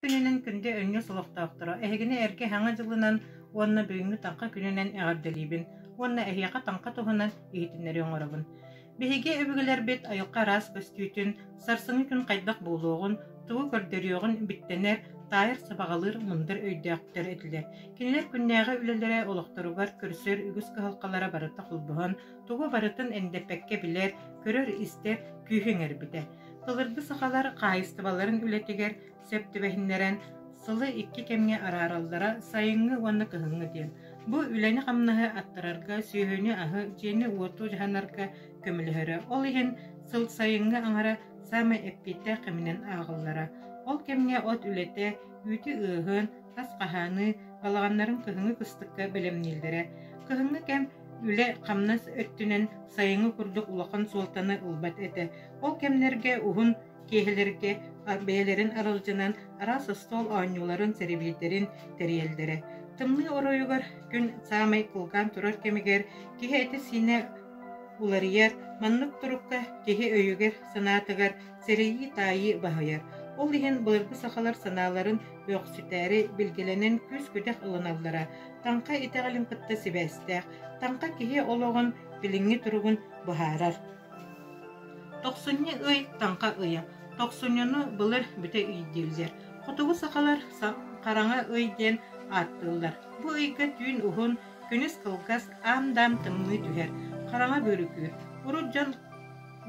күнүнэн күндү өнньүс олохтоохторо, эһигини эргэ Хаҥа дьылынан уонна бүгүҥҥү Таҥха күнүнэн эҕэрдэлиибин уонна эһиэхэ-таҥха туһунан иһитиннэрии оҥоробун. Биһиги өбүгэлэрбит айылҕа араас көстүүтүн, сарсыҥҥы күн хайдах буолуоҕун, тугу көрдөрүөҕүн биттэнэр, таайар сабаҕалыыр мындыр өйдөөхтөр этилэр. Кинилэр күннээҕи үлэлэрэ олохторугар көрсөр үгүс кыһалҕалара барыта холбоһон, тугу барытын эндэппэккэ билэр, көрөр-истэр күүһү иҥэрбитэ. Былыргы сахалар хаайыстыбаларын үлэтигэр сөп түбэһиннэрэн сылы икки кэмҥэ араараллара сайыҥҥы уонна кыһыҥҥы диэн. Бу үлэни-хамнаһы аттарарга, сүөһүнү-аһы, дьиэни-уоту дьаһанарга көмөлөһөрө. Ол иһин сыл сайыҥҥы аҥара саамай эппиэттээх кэминэн ааҕыллара. Ол кэмҥэ от үлэтэ, үүтү-ыаһын, Тас хаһааныы балаҕаннарын кыһыҥҥы кыстыкка бэлэмнииллэрэ. Кыһыҥҥы кэм үлэ-хамнас өттүнэн сайыҥҥы курдук улахан суолтаны ылбат этэ. Ол кэмнэргэ уһун киэһэлэргэ бэйэлэрин аралдьынан араас остуол оонньууларын, сэрэбиэйдэрин тэрийэллэрэ. Тымныы оройугар күн саамай кылгаан турар кэмигэр киһи этэ-сиинэ уларыйар, маннык турукка киһи өйүгэр-санаатыгар сэрэйии-таайыы баһыйар. Ол иһин былыргы сахалар санааларын Бөхсүтээри билгэлэнэн күүс-күдэх ылыналлара, таҥха итэҕэлин кытта сибээстээх, таҥха киһи олоҕун, билиҥҥи туругун быһаарар. Тохсунньу ый таҥха ыйа. Тохсунньуну былыр бүтэ иитиллэр. Хотугу сахалар хараҥа ый диэн ааттыыллар. Бу ыйга түүн уһун, күнүс кылгас, аам-даам тымныы түһэр. Хараҥа бөрүкү. Урут дьон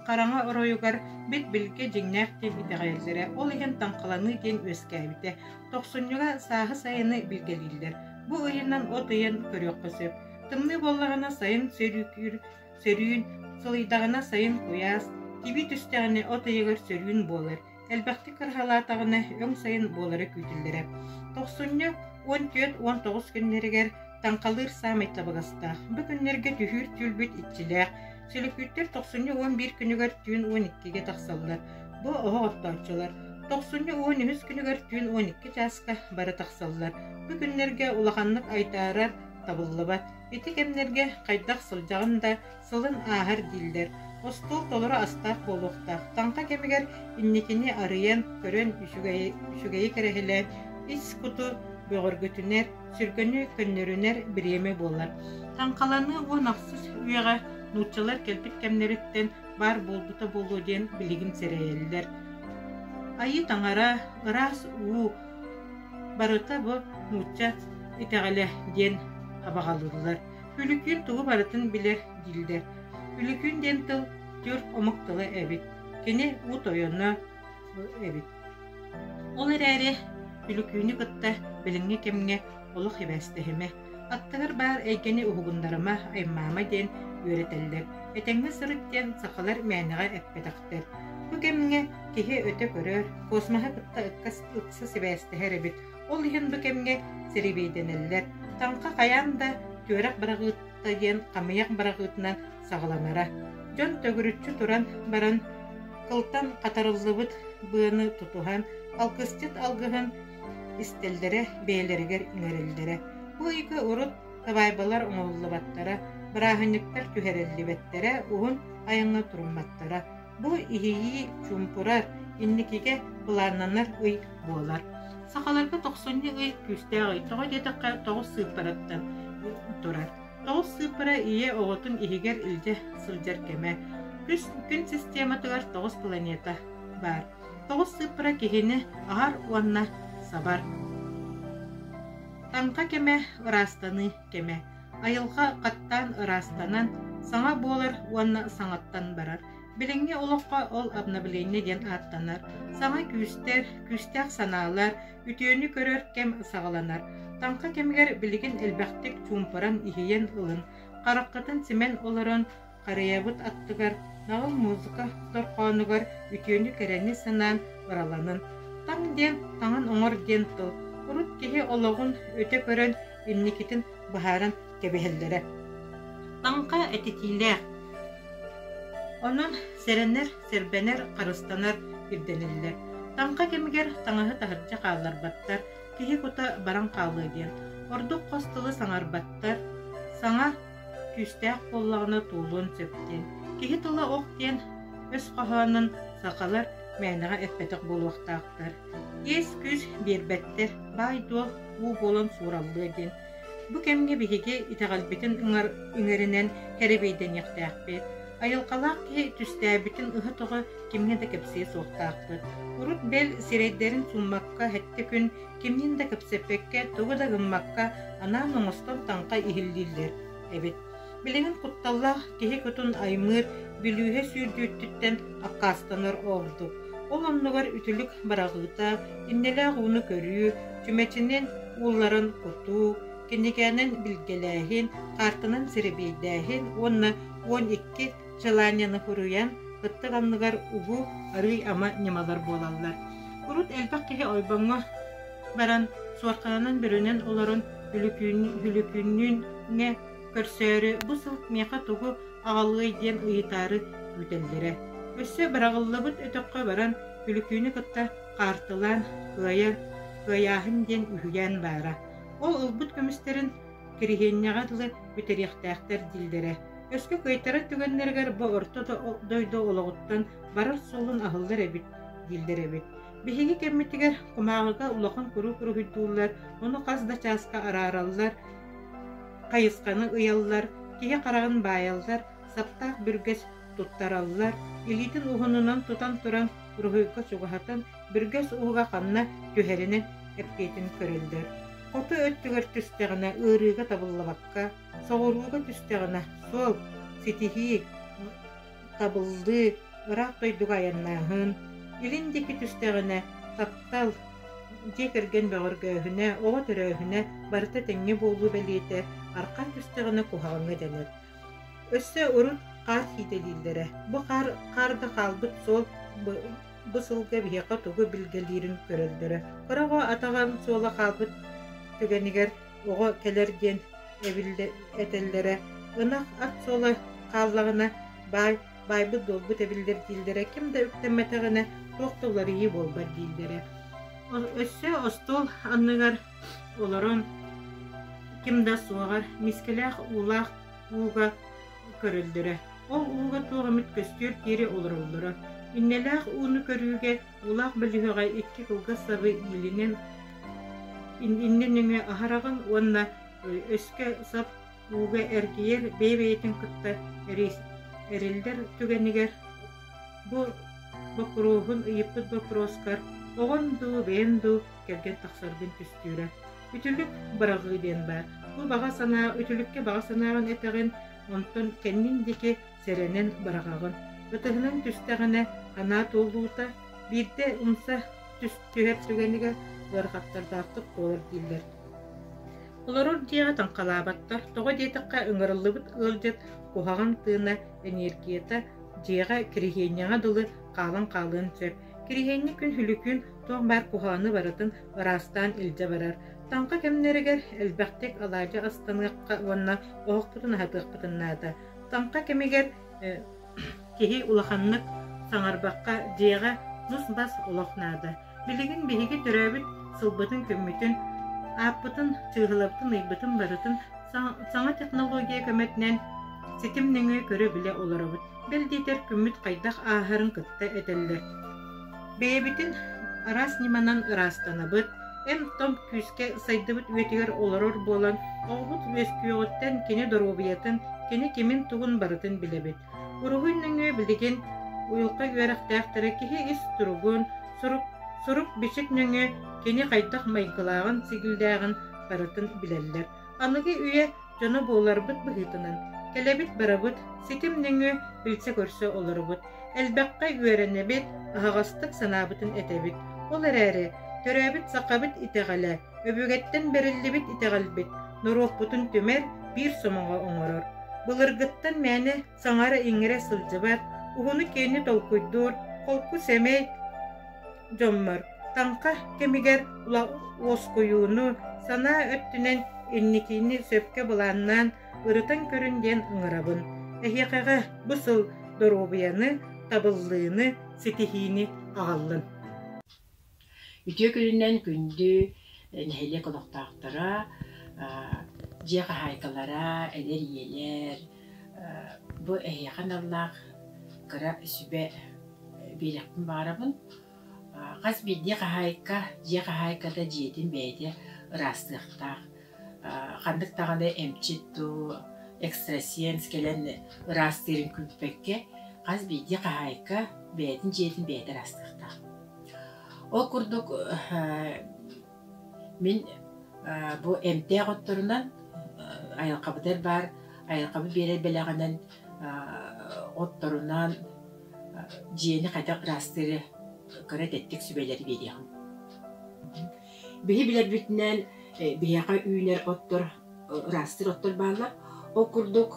хараҥа оройугар бил-билгэ дьиҥнээх диэн итэҕэйэллэрэ, ол иһин таҥхаланыы диэн үөскээбитэ. Тохсунньуга сааһы сайыны билгэлииллэр. Бу ыйынан от ыйын көрүөххэ сөп. Тымныы буоллаҕына сайын сөрүүкүүр, сөрүүн, сылыйдаҕына сайын куйаас, тибии түстэҕинэ от ыйыгар сөрүүн буолар. Элбэхтик кыраһалаатаҕына өҥ сайын буолара күүтүллэрэ. Тохсунньу уон түөрт уон тоҕус күннэригэр Таҥхалыыр саамай табыгастаах. Бу күннэргэ түһүүр түүлбүт иччилээх. Сөлөкүүттэр тохсунньу уон биир күнүгэр түүн уон иккигэ тахсаллар. Бу оһох охтооччулар. Тохсунньу уон үһүс күнүгэр түүн уон икки чааска бары тахсаллар. Бу күннэргэ улаханнык айдаарар табыллыбат. Ити кэмнэргэ хайдах сылдьаҕын да, Салын ааһар дииллэр. Остуол толору астаах буолуохтаах. Таҥха кэмигэр инникини арыйан, көрөн үчүгэйи, үчүгэйи кэрэһилээн ис куту бөҕөргөтүнэр, сүргэни көннөрүнэр бириэмэ буолар. Таҥхаланыы уон ахсыс үйэҕэ нууччалар кэлбит кэмнэриттэн баар буолбута буолуо диэн билигин сэрэйэллэр. Айыы таҥара, ыраас уу, барыта бу нуучча итэҕэлэ диэн абаҕалыыллар. Күлүкүүн тугу барытын билэр дииллэр. Күлүкүүн диэн тыл түөрт омук тыла эбит. Кини уу тойоно эбит. Ол эрээри Күлүкүүнү кытта билиҥҥи кэмҥэ олох сибээстэһимэ. Аттыгар баар эйгэни уһугуннарыма, аймаама диэн үөрэтэллэр. Этэҥҥэ сырыт диэн сахалар мээнэҕэ эппэтэхтэр. Бу кэмҥэ киһи өтө көрөр, космоһы кытта ыкса сибээстэһэр эбит. Ол иһин бу кэмҥэ сирэбиэйдэнэллэр, таҥха хайаан да түөрэх быраҕыытта диэн хамыйах быраҕыытынан саҕаланара. Дьон төгүрүччү туран баран, кылтан хатарыллыбыт быаны тутуһан, алгысчыт алгыһын истэллэрэ, бэйэлэригэр иҥэрэллэрэ. Бу ыйга урут табаайбалар оҥоһуллубаттара, бырааһынньыктар түһэриллибэттэрэ, уһун айаҥҥа турумматтара. Бу иһийии, чуумпурар, инникигэ былааннанар ый буолар. Сахаларга тохсунньу ый күүстээх ый. Тоҕо диэтэххэ, тоҕус сыыппараттан турар. Тоҕус сыыппара ийэ оҕотун иһигэр илдьэ сылдьар кэмэ. Күн, күн систематыгар тоҕус планета баар. Тоҕус сыыппара киһини аһар уонна сабар. Таҥха кэмэ ыраастаныы кэмэ. Айылҕа хаттаан ыраастанан, саҥа буолар уонна саҥаттан барар. Билиҥҥи олоххо ол обновление диэн ааттанар. Саҥа күүстэр, күүстээх санаалар, үтүөнү көрөр кэм саҕаланар. Таҥха кэмигэр билигин элбэхтик чуумпуран, иһийэн ылын. Хараххытын симэн олорон, Харыйабыт аттыгар, наҕыл музыка дорҕоонугар үтүөнү кэрэни санаан бараланан «Таҥ» диэн таҥын оҥор диэн тыл урут киһи олоҕун өтө көрөн инникитин быһааран кэбиһэллэрэ. Таҥха этитиилээх. Онон сэрэнэр, сэрбэнэр, харыстанар ирдэнэллэр. Таҥха кэмигэр таҥаһы таһырдьа хаалларбаттар, киһи кута баран хаалыа диэн. Ордук хос тылы саҥарбаттар, саҥа Күүстээх буоллаҕына туолуон сөптүн. Киһи тыла ох диэн өс хоһоонун сахалар мээнэҕэ эппэтэх буолуохтаахтар. Иэс-күүс биэрбэттэр, баай-дуол уу буолан суураллыа диэн. Бу кэмҥэ биһиги итэҕэлбитин ыҥар, иҥэринэн кэрэбиэйдэниэхтээхпит. Айылҕалаах киһи түстээбитин ыһы-тоҕо кимҥэ да кэпсиэ суохтаахпыт. Урут бэл сирэйдэрин суммакка хэттэ күн Кимниин да кэпсэппэккэ, тугу да гыммакка, анаан оҥостон таҥха иһиллииллэр эбит. Билигин кутталлаах киһи кутун аймыыр, бүлүүһэ сүүрдүүттүттэн аккаастанар ордук. Ол оннугар үтүлүк быраҕыыта, иннэлээх ууну көрүү, чүмэчинин уулларын кутуу, кинигээнэн билгэлээһин, каартанан сэрэбиэйдээһин уонна уон икки Челаньяны хоруйан, кыттык анныгар уһу, арыый-ама ньымалар буолаллар. Урут элбэх киһи ойбоҥҥо баран, суорхананан-бүрүнэн олорон Үлүкүүннүүн көрсөөрү бу сыл миэхэ тугу аҕалыай диэн ыйытаары күүтэллэрэ. Өссө быраҕыллыбыт өтөххө баран Үлүкүүнү кытта хаартылаан кыайан кыайааһын диэн үһүйээн баара. Ол ылбыт көмүстэрин Кириһиэнньэҕэ дылы бүтэриэхтээхтэр дииллэрэ. Өскө кыайтарар түгэннэригэр бу орто дойду олоҕуттан барар суолун аһыллар эбит дииллэр эбит. Биһиги кэммитигэр кумааҕыга улахан куруук уруһуйдууллар, ону хас да чааска араараллар, хайысханы ыйаллар, киһи хараҕын баайаллар, саптаах бүргэс туттараллар, илиитин уһунунан тутан туран уруһуйга чугаһатан Бүргэс ууга ханна түһэринэ эппиэтин көрөллөр. Хоту өттүгэр түстэҕинэ ыарыыга табыллыбакка, соҕурууга түстэҕинэ суол, ситиһии, табыллыы ыраах дойдуга айаннааһын, илин диэки түстэҕинэ таптал, дьиэ кэргэн бөҕөргөөһүнэ, оҕо төрөөһүнэ барыта тэҥҥэ буолуу бэлиэтэ, арҕаа түстэҕинэ куһаҕаҥҥа дэнэр. Өссө урут хаар сиитэлииллэрэ. Бу хаар хаар да хаалбыт суол Бу сылга биһиэхэ тугу билгэлиирин көрөллөрө. Кыра оҕо атаҕын суола хаалбыт түгэнигэр оҕо кэлэр диэн этэллэрэ. Ынах ат суола хааллаҕына баай, баайбыт-дуолбут эбиллэр дииллэрэ, ким да үктэммэтэҕинэ туох да уларыйыы буолбат дииллэрэ. Өссө остуол анныгар олорон ким да суоҕар мискэлээх уулаах ууга көрөллөрө. Ол ууга туох эмит көстүөр диэри олороллоро. Иннэлээх ууну көрүүгэ уулаах бөлүһүөҕэ икки кылгас сабы иилинэн иннинэ нөҥө аһараҕын уонна өскө сап ууга эргийэр бэйэ-бэйэтин кытта эриллэр түгэнигэр бу боппуруоһун ыйыппыт боппуруоскар оҕон дуу бэйэм дуу кэргэн тахсаргын түстүүрэ. Үтүлүк быраҕыы диэн баар. Бу баҕа санаа үтүлүккэ баҕа санааҕын этэҕин, онтон кэннин диэки сэрэнэн быраҕаҕын. Ытыһынан түстэҕинэ анаа туолуута, биирдэ умса түһэр түгэнигэ ыарахаттардаахтык буолар дииллэр. Олорор дьиэҕэ таҥхалаабаттар, тоҕо диэтэххэ ыҥырыллыбыт ыалдьыт куһаҕан тыына, энергията, дьиэҕэ кириһиэнньэҕэ дылы хаалан хаалыан сөп. Кириһиэнньик күн Хүлүкүн туох баар куһаҕаны барытын ыраастаан илдьэ барар, таҥха кэмнэригэр элбэхтик алаадьы астаныахха уонна оһохпутун аһатыахпытын наада. Таҥха кэмигэр киһи улаханнык саҥарбакка дьиэҕэ нус-бас олох наада. Билигин биһиги төрөөбүт сылбытын-күммүтүн, ааппытын, чыыһылабытын, ыйбытын барытын саҥа технология көмөтүнэн ситим нөҥүө көрө-билэ олоробут. бэл диэтэр күммүт хайдах ааһарын кытта этэллэр. Бэйэбитин араас ньыманан ыраастанабыт, эм-том күүскэ сайдыбыт үйэтигэр олорор буолан, оҕобут үөскүөҕүттэн кини доруобуйатын, кини кимин-тугун барытын билэбит. Уруһуй нөҥүө билигин уйулҕа үөрэхтээхтэрэ киһи ис туругун, сурук сурук-бичик нөҥүө кини хайдах майгылааҕын, сигилдээҕин барытын билэллэр. Аныгы үйэ дьоно буоларбыт быһыытынан, кэлэбит барабыт, ситим нөҥүө билсэ-көрсө олоробут, элбэххэ үөрэнэбит, аһаҕастык санаабытын этэбит. Ол эрээри төрөөбүт сахабыт итэҕэлэ, өбүгэттэн бэриллибит итэҕэлбит норуоппутун түмэр, биир сомоҕо оҥорор. Былыргыттан мээнэ саҥара-иҥэрэ сылдьыбат, уһуну-киэни толкуйдуур, холку сэмэй, дьоммор таҥха кэмигэр уоскуйууну санаа өттүнэн инникини сөпкө былааннаан ырытан көрүн диэн ыҥырабын эһиэхэҕэ бу сыл доруобуйаны табыллыыны ситиһиини аҕаллын үтүө күнүнэн күндү нэһилиэк олохтоохторо дьиэ хаһаайкалара эдэр ийэлэр Бу эһиэхэ аналлаах кыра сүбэ биэриэхпин баҕарабын. Хас биирдии хаһаайка дьиэ хаһаайката дьиэтин бэйэтэ ыраастыахтаах. Ханнык даҕаны эмчит дуу, экстрасенс кэлэн ыраастыырын күүппэккэ, хас биирдии хаһаайка бэйэтин дьиэтин бэйэтэ ыраастыахтаах. Ол курдук Мин бу эмтээх отторунан айылҕабытыгар баар айылҕабыт биэрэр бэлэҕинэн отторунан дьиэни хайдах ыраастыыры кыра тэттик сүбэлэри биэриэҕим. Биһи билэрбитинэн биһиэхэ үүнэр оттор ыраастыыр оттор бааллар. Ол курдук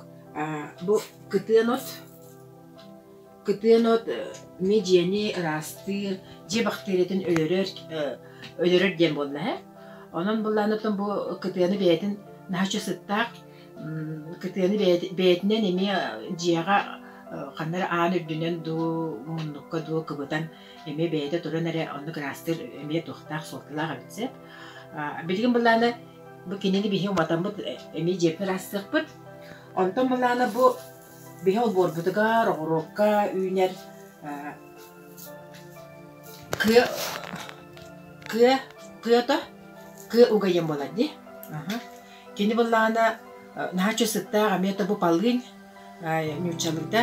бу кытыан от Кытыан от эмиэ дьиэни ыраастыыр, дьиэ бактериятын өлөрөр, өлөрөр диэн буолла һэ. Онон былаан оттон бу кытыаны бэйэтин наһаа үчүгэй сыттаах, кытыаны бэйэтинэн эмиэ дьиэҕэ ханна эрэ аан үрдүнэн дуу, муннукка дуу кыбытан эмиэ бэйэтэ туран эрэ оннук ыраастыыр эмиэ туохтаах суолталаах эбит сөп. Билигин былаана бу кинини биһи уматаммыт эмиэ дьиэбитин ыраастыахпыт. Онтон былаана бу Биһи олбуорбутугар, оҕуруокка үүнэр кыа кыа кыата кыа угайын буолар дии. Кини буоллаҕына наһаа үчүгэй сыттаах эмиэ тобу полынь ньууччалыыта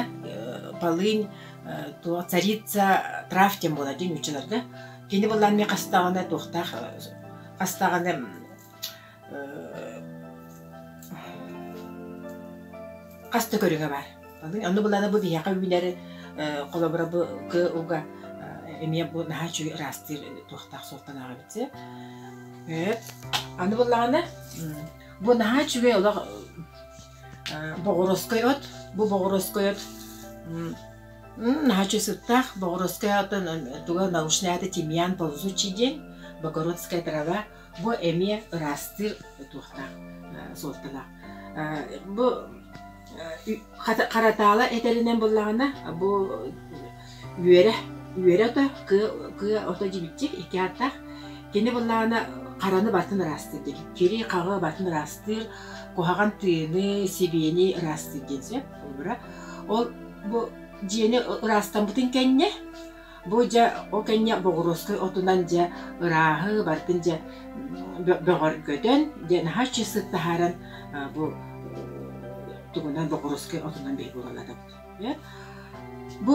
полынь туох царица трав диэн буолар дии ньууччаларга. Кини буоллаҕына эмиэ хастаҕына туохтаах хастаҕына хас да көрүҥэ баар. Онно былаана бу биһиэхэ үүнэр холобура бу кыылга эмиэ бу наһаа үчүгэй ыраастыыр туохтаах суолталаах эбит сэ. Аны былаана бу наһаа үчүгэй олох боҕуруоскай от. Бу боҕуруоскай от наһаа үчүгэй сыттаах. Боҕуруоскай отун туга научная это тимьян ползучий день, Богородская трава Бу эмиэ ыраастыыр туохтаах суолталаах. Бу харатаала этэринэн буллаҕына бу үөрэ үөрэ ото кыа ото дьибиччик икки ааттаах кини буллаҕына хараны бартын ыраастыыр диэн кири хаҕы бартын ыраастыыр куһаҕан тыыны сибиэни ыраастыыр диэн сөп ол бу дьиэни ыраастаммытын кэннэ Бу дьэ ол кэннэ боҕуруоскай отунан дьэ ырааһы барытын дьэ бөҕөргөтөн дьэ наһаа чысык таһааран бу тугунан боҕуруоскай отунан биһиги булаллатабыт. Бу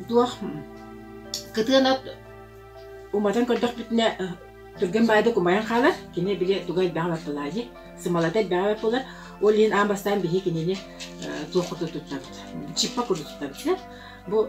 туох кытыан от уматан көрдөхпүтүнэ түргэн баайда кумайан хаалар кини били туга элбэҕи батталаа дии сымалата элбэҕи баппылар ол иһин аан бастаан биһи кинини туох куту туттабыт чиппа куту туттабыт бу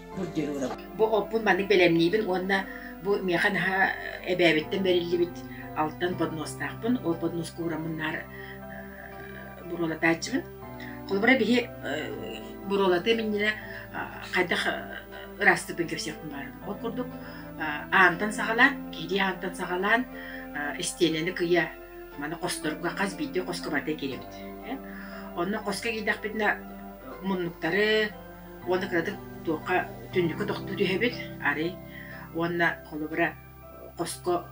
Бу оппун маннык бэлэмниибин уонна бу миэхэ наһаа эбээбиттэн бэриллибит алтан подноснаахпын. Ол подноску уураммын наар буруолатааччыбын. Холобура биһи буруолатыам иннинэ хайдах ыраастыырбын кэпсиэхпин баарын. Ол курдук аантан саҕалаан, киһилии аантан саҕалаан истиэнэни кыйа маны хосторго хас биирдии хоско барда киирэбит. Онно хоско киирдэхпитинэ муннуктары уонна кыратык туохха түннүккэ тохтуу түһэбит, арый уонна холобура хоско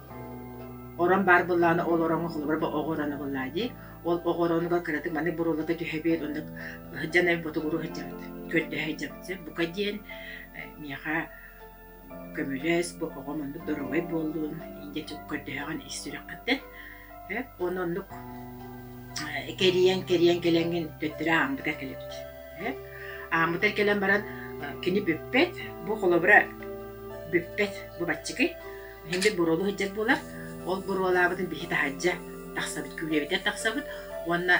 орон баар буоллаҕына ол ороҥҥо холобура бу оҕо ороно буоллаа дии. Ол оҕо оронугар кыратык маннык буруоларга түһэбит, оннук сыдьан эбит ботугуруу сылдьабыт, көрдөһө сылдьабыт. Бука диэн э, миэхэ көмүлэс бу оҕом оннук доруобай буоллун индиэтик көрдөһөҕүн ис сүрэххиттэн эп уонна оннук э, кэрийэн кэрийэн кэлэҥҥин төттөрү ааммытыгар кэлэбит эп ааммытыгар кэлэн баран э, кини бүппэт бу холобура бүппэт бу баччыкый инди буруолу сылдьар буолар ол буруолаабытын биһи таһаджа тахсабыт күүлэбитэ тахсабыт уонна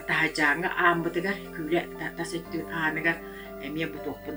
таһаджааҥҥа ааммытыгар күүлэ тас өттү ааныгар эмиэ бутуохпун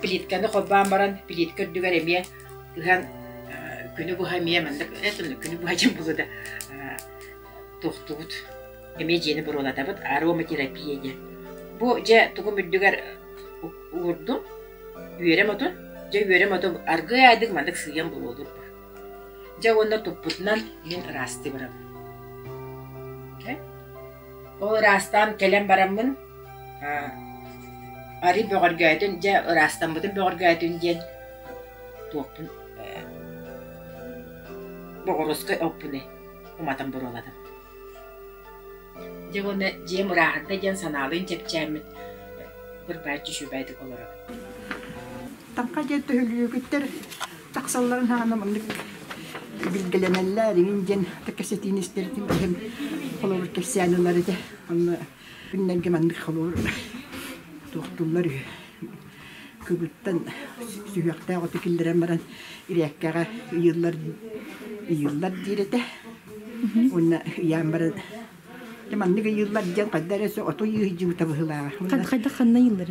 плитканы холбоон баран, плитка үрдүгэр эмиэ ыһан күнү быһа эмиэ маннык күнү быһа дьин булу да туохтубут эмиэ дьиэни буруолатабыт ароматерапия диэн. Бу дьэ тугум үрдүгэр уурдум, үөрэм оту, дьэ үөрэм оту аргыай айдык маннык сыыйан буруолуурбут. Дьэ уонна туппутунан мин ыраастыбырам. Ол ыраастаан кэлэн бараммын Арый бөҕөргөөтүн, дьэ ыраастаммытын бөҕөргөөтүн диэн туохпун э боҕуруоскай оппуны уматан буруолатым. Дьэ уонна дьиэм ырааһынтай диэн санаалыын чэпчээммит бырбааччы үчүгэйдик олоробун. Таҥха диэн төһөлүйүгүттэр тахсалларын хаана маннык билгэлэнэллэр, иҥин диэн кэпсэтиини истэрбитим иһин холобур кэпсээн ылар этэ. Онно Күннэргэ маннык холуур туохтууллар үһү. Кыбыттан сүһүөхтээх оту киллэрэн баран ирээккэҕэ ыйыыллар ыйыыллар диир этэ. Уонна ыйаан баран маннык ыйыыллар диэн хайда эрэ оту ыйыыдьыбыта быһыылааҕа. Хайдах ханна ыйыыллар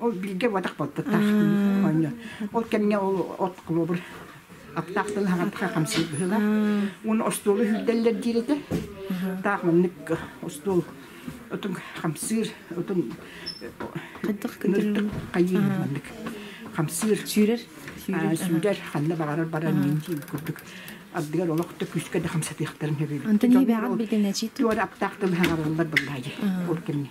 Ол бииргэ буотах болтуттаах оонньо. Ол кэмҥэ ол от клубр аптаахтан хаҕатха хамсыыр быһыылаах. Уну остуолу үрдэллэр диир этэ. Таах маннык остуол отун хамсыыр отун ныртык хайыы маннык хамсыыр сүүрэр сүүрэр ханна баҕарар баран диин курдук ардыгар олох да күүскэ да хамсатыахтарын сөбүлүүр. Антон Небеҕан билгэнэчи туор аптаахтан хаҕарыллар быллаайы ол кэмҥэ.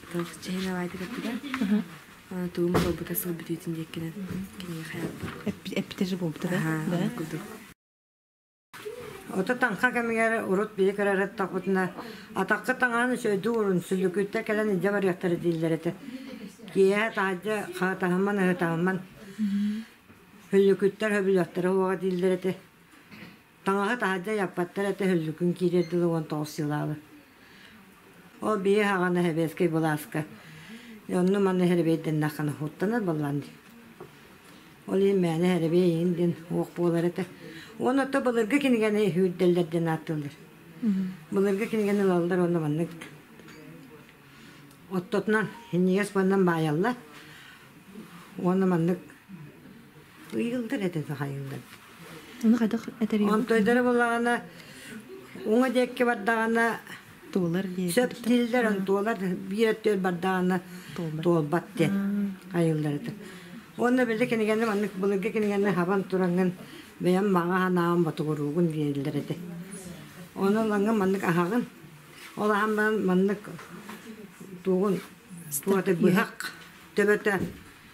чэһин алаайда көппүтэ тугум буолбута сыл бүтүүтүн диэккинэн киниэхэ эппит эппитэ же буолбута да курдук Ото танха кэмигэр урут бии көрөрөт таппытына атакка таҥаан сөйдүү урун сүлүкүттэ кэлэн илдьэ барыахтара дииллэр этэ. Киэһэ таһаджа хаатаһамман ыһытаһамман хүлүкүттэр хөбүлэхтэрэ уоҕа дииллэр этэ. Таҥаһы таһырдьа яппаттар этэ хөллүкүн киириэр дылы уон тоҕус сылаабы. Ол бии хаҕана сэбиэскэй былааска онну-манна сэрэбиэйдэннэххин уттанар баллан Ол иһин мээнэ сэрэбиэй иин дин уох буолар этэ. Уонна отто былыргы кинигэни үүрдэллэр диэн ааттыыллар. Былыргы кинигэни ылаллар уонна маннык оттотунан иннигэс буолан баайалла уонна маннык ыйыллар этэ сахайыллар. Оны хайдах этерийбит? Монтойдары булаҕына, уҥа диэкки бардаҕына, туолар диэн сөп дииллэр, туолар биир өттүгэр бардаҕына туолбат диэн айылларытын. Онно били кинигэнни маннык былыргы кинигэнни хабан тураҥын бэйэм маҕа ханаабын ботугуруугун дииллэр этэ. Онон лаҥын маннык аһаҕын. Ол ахан баран маннык тугун туоты быһах төбөтө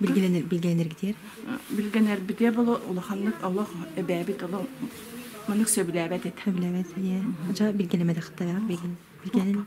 билгилэнэргитиэр билгэнэрбитиэ боло улаханнык олох эбээбит олох маннык сөбүлээбэт этэ сөбүлээбэт дьа билгилэмэтэхтара билгенин